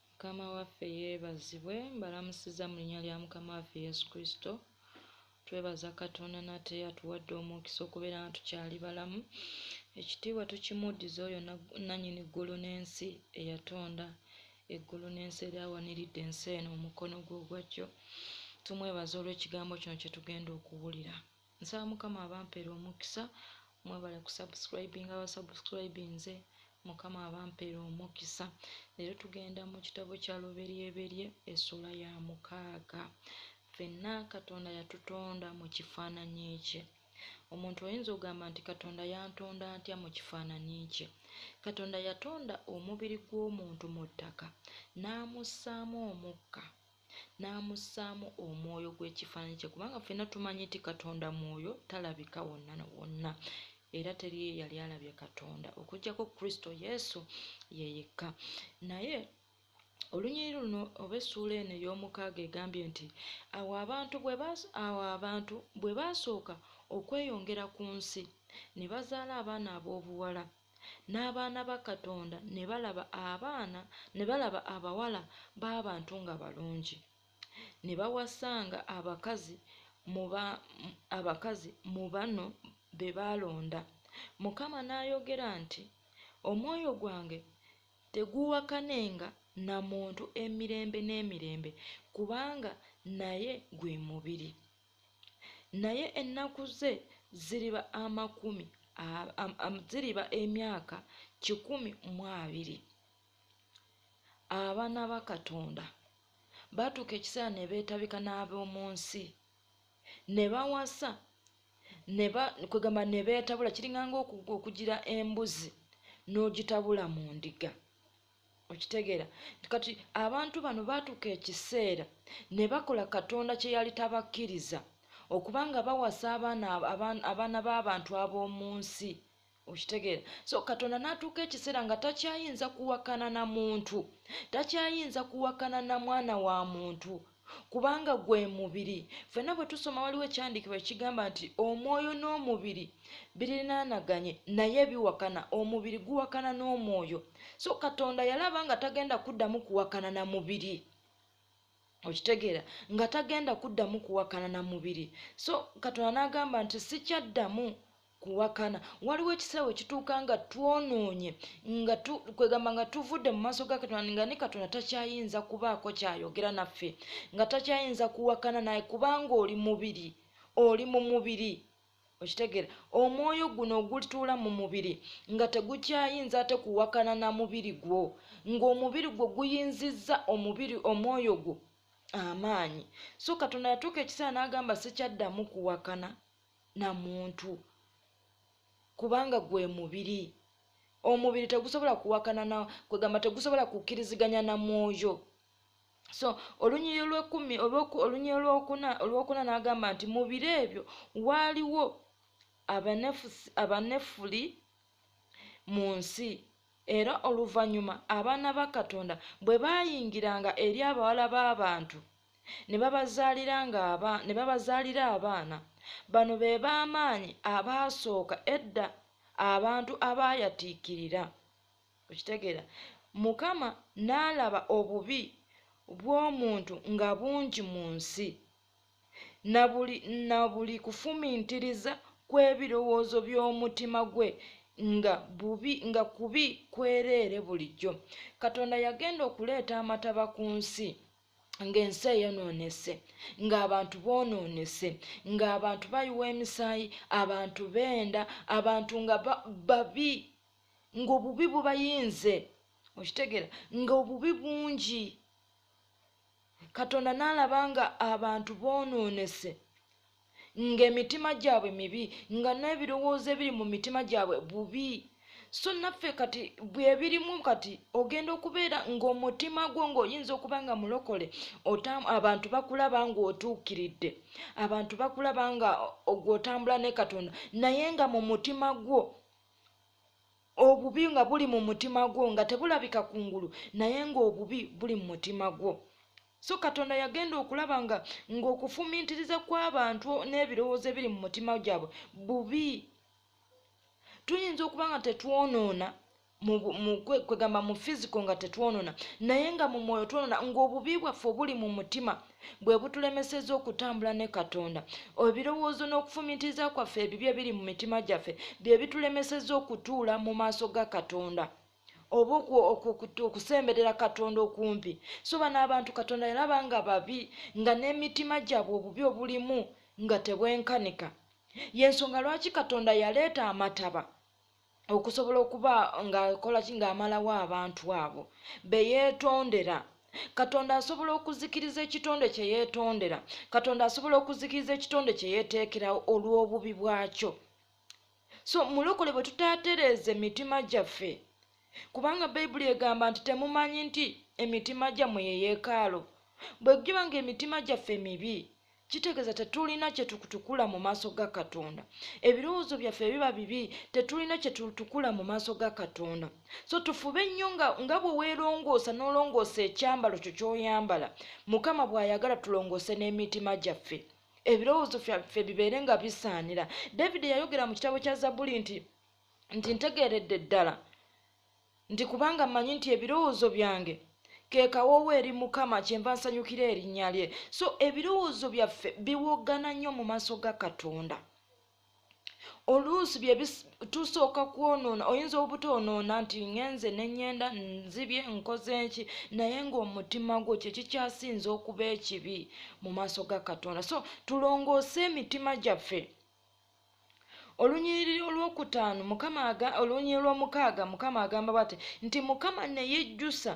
mukama waffe yeebazibwe mbalamusiza mu linnya lya mukama waffe yesu kristo twebaza katonda nate atuwadde omukisa okubeera nga tukyali balamu ekitiibwa tukimuddiza oyo nanyini ggulu n'ensi eyatonda eggulu n'ensi eri awaniridde ensi eno omukono gwe ogwajjo tumwebaza olw'ekigambo kino kye tugenda okuwulira nsaba mukama abampere omukisa mwebale kusubscribinga abasubscribinze mukama abampere omukisa leero tugenda mu kitabo kya luberyeberye esula ya mukaaga fenna katonda yatutonda mu kifaananyi ekye omuntu oyinza ogamba nti katonda yantonda ntya mu kifaananyi kye katonda yatonda omubiri gw'omuntu mu ttaka n'amussaamu omukka n'amussaamu omwoyo gw'ekifaananyi kye kubanga ffenna tumanyi nti katonda mwoyo talabika wonna na wonna era teriyo eyali alabye katonda okujjako kristo yesu ye yekka naye olunyiriri luno oba essuula eno ey'omukaaga egambye nti awo abantu awo abantu bwe baasooka okweyongera ku nsi ne bazaala abaana ab'obuwala n'abaana ba Katonda ne balaba abaana ne balaba abawala b'abantu nga balungi, ne bawasanga abakazi mu ba abakazi mu bano be baalonda. Mukama n'ayogera nti, Omwoyo gwange teguuwakanenga na muntu emirembe n'emirembe, kubanga naye gwe mubiri. naye ennaku ze ziriba amakumi ziriba emyaka kikumi mu abiri abaana ba katonda batuuka ekiseera ne beetabika n'ab'omu nsi ne bawasa kwegamba ne beetabula kiringanga okugira embuzi n'ogitabula mu ndiga okitegeera nti kati abantu bano baatuuka ekiseera ne bakola katonda kye yali tabakkiriza okuba nga bawasa abaana abaana b'abantu ab'omu nsi okitegeera so katonda n'atuuka ekiseera nga takyayinza kuwakana na muntu takyayinza kuwakana na mwana wa muntu kubanga gwe mubiri fenna bwe tusoma waliwo ekyandikibwa ekigamba nti omwoyo n'omubiri birinaanaganye naye biwakana omubiri guwakana n'omwoyo so katonda yalaba nga tagenda kuddamu kuwakana na mubiri okitegeera nga tagenda kuddamu kuwakana na mubiri so katonda n'agamba nti sikyaddamu kuwakana waliwo ekiseera we kituuka nga twonoonye nga kwegamba nga tuvudde mu maaso ga katonda nga ne katonda takyayinza kubaako kyayogera naffe nga takyayinza kuwakana naye kubanga oli mubiri oli mu mubiri okitegeera omwoyo guno ogulituula mu mubiri nga tegukyayinza ate kuwakana na mubiri gwo ng'omubiri gwo guyinzizza omubiri omwoyo gwo amaanyi so katonda yatuuka ekiseera n'agamba sikyaddamu kuwakana na muntu kubanga gwe mubiri omubiri tegusobola kuwakana na kwegamba tegusobola kukkiriziganya na mwoyo so olunyiyo lwekumi olunyiyo lwokuna olwokuna n'agamba nti mu biro ebyo waaliwo abanefuli mu nsi era oluvannyuma abaana ba katonda bwe baayingiranga eri abawala b'abantu ne babazaalira abaana bano be b'amaanyi abaasooka edda abantu abaayatiikirira okitegeera mukama n'alaba obubi bw'omuntu nga bungi mu nsi na buli kufumintiriza kw'ebirowoozo by'omutima gwe nga bubi nga kubi kwereere bulijjo katonda yagenda okuleeta amataba ku nsi ng'ensi eyonoonese ng'abantu boonoonese ng'abantu bayiwa emisaayi abantu beenda abantu nga babi ng'obubi bubayinze okitegeera ng'obubi bungi katonda n'alaba nga abantu boonoonese ng'emitima gyabwe mibi nga n'ebirowoozo ebiri mu mitima gyabwe bubi so naffe kati bwebirimu kati ogenda okubeera ng'omutima gwo ng'oyinza okuba nga mulokole abantu bakulaba ng'otuukiridde abantu bakulaba nga ogw'otambula ne katonda naye nga mu mutima gwo obubi nga buli mu mutima gwo nga tebulabika ku ngulu naye ng'obubi buli mu mutima gwo so katonda yagenda okulaba nga ng'okufumiitiriza kw'abantu n'ebirowoozo ebiri mu mutima gyabwe bubi tuyinza okuba nga tetwonoona kwegamba mu fisico nga tetwonona naye nga mu mwoyo twonona ng'obubi bwaffe obuli mu mutima bwe butulemeseza okutambula ne katonda ebirowoozo n'okufumitiriza kwaffe ebibi ebiri mu mitima gyaffe bye bitulemeseza okutuula mu maaso ga katonda oba okusemberera katonda okumpi so bano abantu katonda yalaba nga babi nga n'emitima gyabwe obubi obulimu nga tebwenkanika yensonga lwaki katonda yaleeta amataba okusobola okuba ng'akola ki ng'amalawo abantu abo be yeetondera katonda asobola okuzikiriza ekitonde kye yeetondera katonda asobola okuzikiriza ekitonde kye yeeteekerawo olw'obubi bwakyo so mulokole bwe tutatereeza emitima gyaffe kubanga bayibuli egamba nti temumanyi nti emitima gyammwe ye yeekaalo bwe giba nga emitima gyaffe mibi kitegeeza tetulina kyetutukula mu maaso ga katonda ebirowoozo byaffe biba bibi tetulina kyetutukula mu maaso ga katonda so tufube nnyo nga, nga bwe weerongoosa n'olongoosa ekyambalo kyo ky'oyambala mukama bw'ayagala tulongoose n'emitima gyaffe ebirowoozo fyaffe bibeere nga bisaanira david yayogera mu kitabo kya zabuli nti nti ntegeeredde ddala nti kubanga mmanyi nti ebirowoozo byange ke kawoowo eri mukama kyenva nsanyukira erinnya lye so ebirowoozo byaffe biwoggana nnyo mu maaso ga katonda oluusi byetusooka kwonoona oyinza obutoonoona nti ngenze nenyenda nzibye nkoze nki naye ngaomutima gwo kyekikyasinza okuba ekibi mu maaso ga katonda so tulongoose emitima gyaffe olunyiriri olwokutaano mukama olunyiriri lwomukaaga mukama agamba bwati nti mukama neyejjusa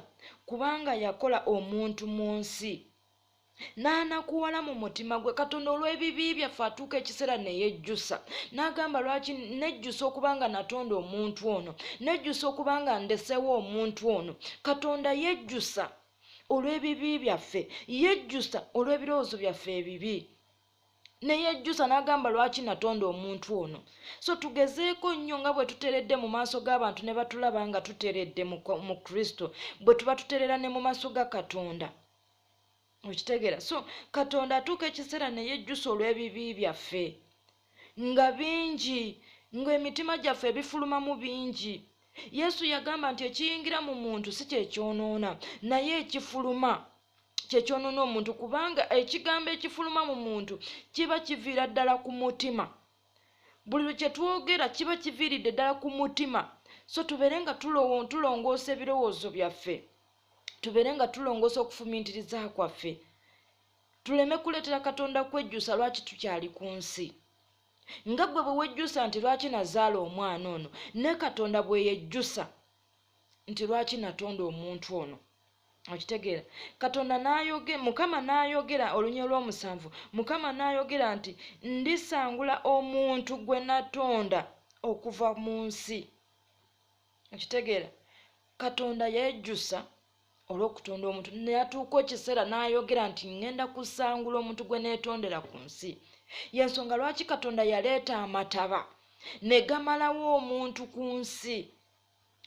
kubanga yakola omuntu mu nsi n'anakuwala mu mutima gwe katonda olw'ebibi byaffe atuuka ekiseera neyejjusa n'agamba lwaki nejjusa okuba nga natonda omuntu ono nejjusa okuba nga ndesewo omuntu ono katonda yejjusa olw'ebibi byaffe yejjusa olw'ebirowoozo byaffe ebibi neyejjusa n'agamba lwaki natonda omuntu ono so tugezeeko nnyo nga bwe tuteredde mu maaso g'abantu ne batulaba nga tuteredde mu kristo bwe tuba tuterera ne mu maaso ga katonda okitegeera so katonda atuuka ekiseera neyejjusa olw'ebibi byaffe nga bingi ng'emitima gyaffe ebifulumamu bingi yesu yagamba nti ekiyingira mu muntu si kyekyonoona naye ekifuluma kyekyonona omuntu kubanga ekigambo ekifuluma mu muntu kiba kiviira ddala ku mutima buli lwe kyetwogera kiba kiviiridde ddala ku mutima so tubeere nga tulongoosa ebirowoozo byaffe tubeere nga tulongoosa okufumintiriza kwaffe tuleme kuleetera katonda kwejjusa lwaki tukyali ku nsi nga gwe bwe wejjusa nti lwaki nazaala omwana ono ne katonda bwe yejjusa nti lwaki natonda omuntu ono okitegeera katonda nayoge mukama nayogera olunya olwomusanvu mukama nayogera nti ndisangula omuntu gwe natonda okuva mu nsi okitegeera katonda yejusa olwokutonda omuntu neyatuuka ekiseera nayogera nti ngenda kusangula omuntu gwe netondera ku nsi yensonga lwaki katonda yaleeta amataba negamalawo omuntu ku nsi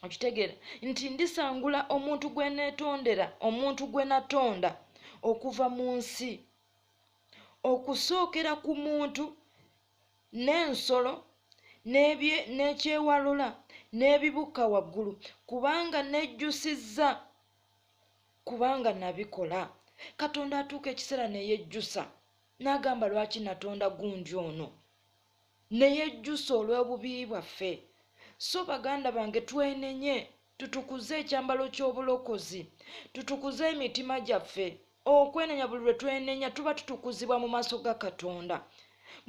okitegeera nti ndisangula omuntu gwe neetondera omuntu gwe natonda okuva mu nsi okusookera ku muntu n'ensolo n'ekyewalula n'ebibukka waggulu kubanga nejjusizza kubanga nabikola katonda atuuka ekiseera neyejjusa n'agamba lwaki natonda gundi ono neyejjusa olw'obubi bwaffe so baganda bange twenenye tutukuze ekyambalo ky'obulokozi tutukuze emitima gyaffe okwenenya buli lwe twenenya tuba tutukuzibwa mu maaso ga katonda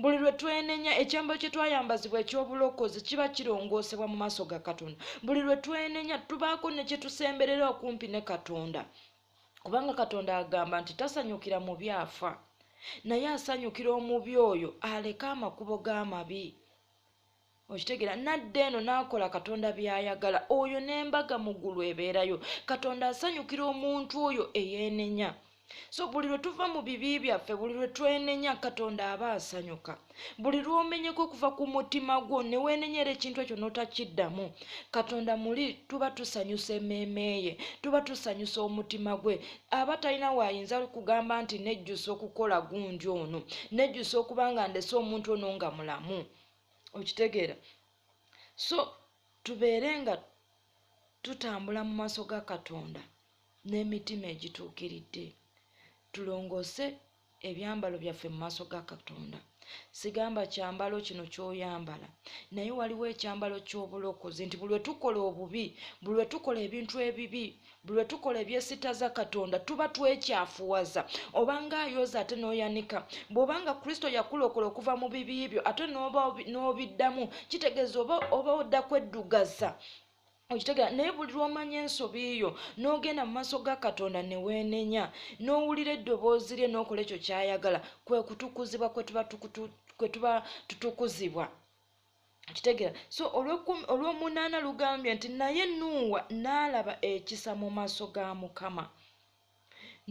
buli lwe twenenya ekyambalo kye twayambazibwa eky'obulokozi kiba kirongoosebwa mu maaso ga katonda buli lwe twenenya tubaako ne kye tusemberera okumpi ne katonda kubanga katonda agamba nti tasanyukira mu byafa naye asanyukira omubi oyo aleka amakubo g'amabi okitegeera nadda eno n'akola katonda by'ayagala oyo n'embaga mu ggulu ebeerayo katonda asanyukira omuntu oyo eyeenenya so buli lwe tuva mu bibi byaffe buli lwe twenenya katonda aba asanyuka buli lwomenyeka okuva ku mutima gwo neweenenyera ekintu ekyo notakiddamu katonda muli tuba tusanyusa emmeeme ye tuba tusanyusa omutima gwe aba talina waayinza kugamba nti nejjusa okukola gunji ono nejjusa okuba nga ndese omuntu ono nga mulamu okitegeera so tubeere nga tutambula mu maaso ga katonda n'emitima egituukiridde tulongoose ebyambalo byaffe mu maaso ga katonda sigamba kyambalo kino kyoyambala naye waliwo ekyambalo ky'obulokozi nti buli wetukola obubi buli wetukola ebintu ebibi buli wetukola ebyesitaza katonda tuba twekyafuwaza obanga ayoza ate n'oyanika bw'obanga kristo yakulokola okuva mu bibi byo ate n'obiddamu kitegeeza oba odda kweddugaza okitegera naye buli lwomanya ensobi yo n'ogenda mu maaso ga katonda ne weenenya n'owulira eddoboozi lye n'okola ekyo ky'ayagala kwe kutukuzibwa kwe tuba kwe tuba tutukuzibwa kitegeera so olw'omunaana lugambye nti naye nuuwa n'alaba ekisa mu maaso ga mukama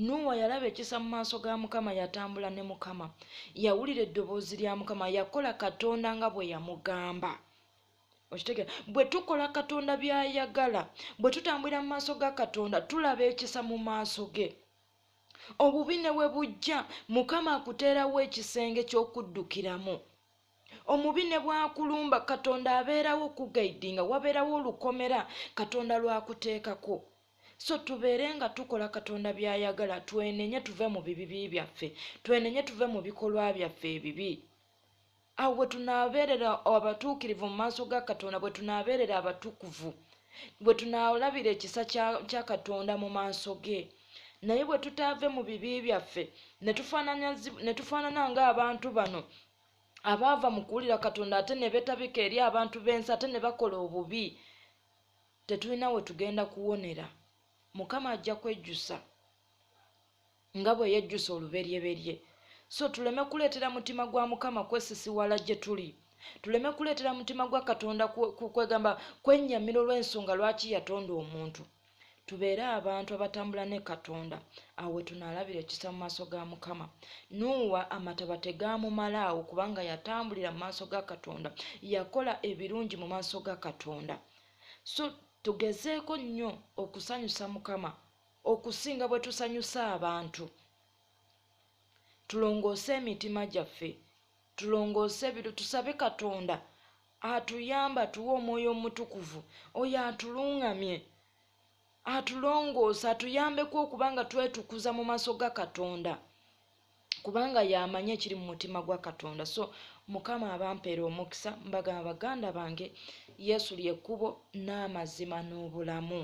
nuuwa yalaba ekisa mu maaso ga mukama yatambula ne mukama yawulira eddoboozi lya mukama yakola katonda nga bwe yamugamba okitegera bwe tukola katonda byayagala bwe tutambulira mu maaso ga katonda tulaba ekisa mu maaso ge obubi ne we bujja mukama akuteerawo ekisenge ky'okuddukiramu omubi ne bwakulumba katonda abeerawo okugaidinga wabeerawo olukomera katonda lwakuteekako so tubeere nga tukola katonda byayagala twenenye tuve mu bibibi byaffe twenenye tuve mu bikolwa byaffe ebibi awo bwe tunaabeerera abatuukirivu mu maaso ga katonda bwe tunaabeerera abatukuvu bwe tunaolabira ekisa kya katonda mu maaso ge naye bwe tutaave mu bibi byaffe ne tufaanana ng'abantu bano abaava mu kuwulira katonda ate ne betabika eri abantu b'ensi ate ne bakola obubi tetulina we tugenda kuwonera mukama ajja kwejjusa nga bwe yejjusa oluberyeberye so tuleme kuleetera mutima gwa mukama kwesisiwala gye tuli tuleme kuleetera mutima gwa katonda kwegamba kwennyamira olw'ensonga lwaki yatonda omuntu tubeere abantu abatambula ne katonda awo we tunaalabira ekisa mu maaso ga mukama nuuwa amataba tegaamumala awo kubanga yatambulira mu maaso ga katonda yakola ebirungi mu maaso ga katonda so tugezeeko nnyo okusanyusa mukama okusinga bwe tusanyusa abantu tulongoose emitima gyaffe tulongoose ebiro tusabe katonda atuyamba tuwe omwoyo omutukuvu oyo atuluŋŋamye atulongoosa atuyambeku okuba nga twetukuza mu maaso ga katonda kubanga yamanyi ekiri mu mutima gwa katonda so mukama abampeera omukisa mbagamba baganda bange yesu lyekkubo n'amazima n'obulamu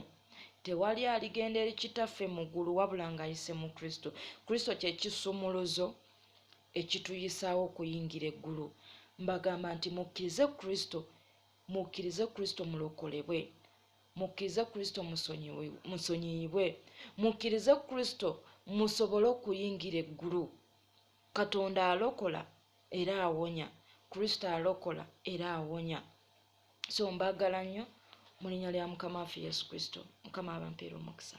tewali aligenda eri kitaffe mu ggulu wabula ng'ayise mu kristo kristo kyekisumuluzo ekituyisaawo okuyingira eggulu mbagamba nti mukkirize kristo mukkirize kristo mulokolebwe mukkirize kristo musonyiyibwe mukkirize kristo musobole okuyingira eggulu katonda alokola era awonya kristo alokola era awonya so mbagala nnyo mu linya lya mukama waffe yesu kristo mukama abampeera omukisa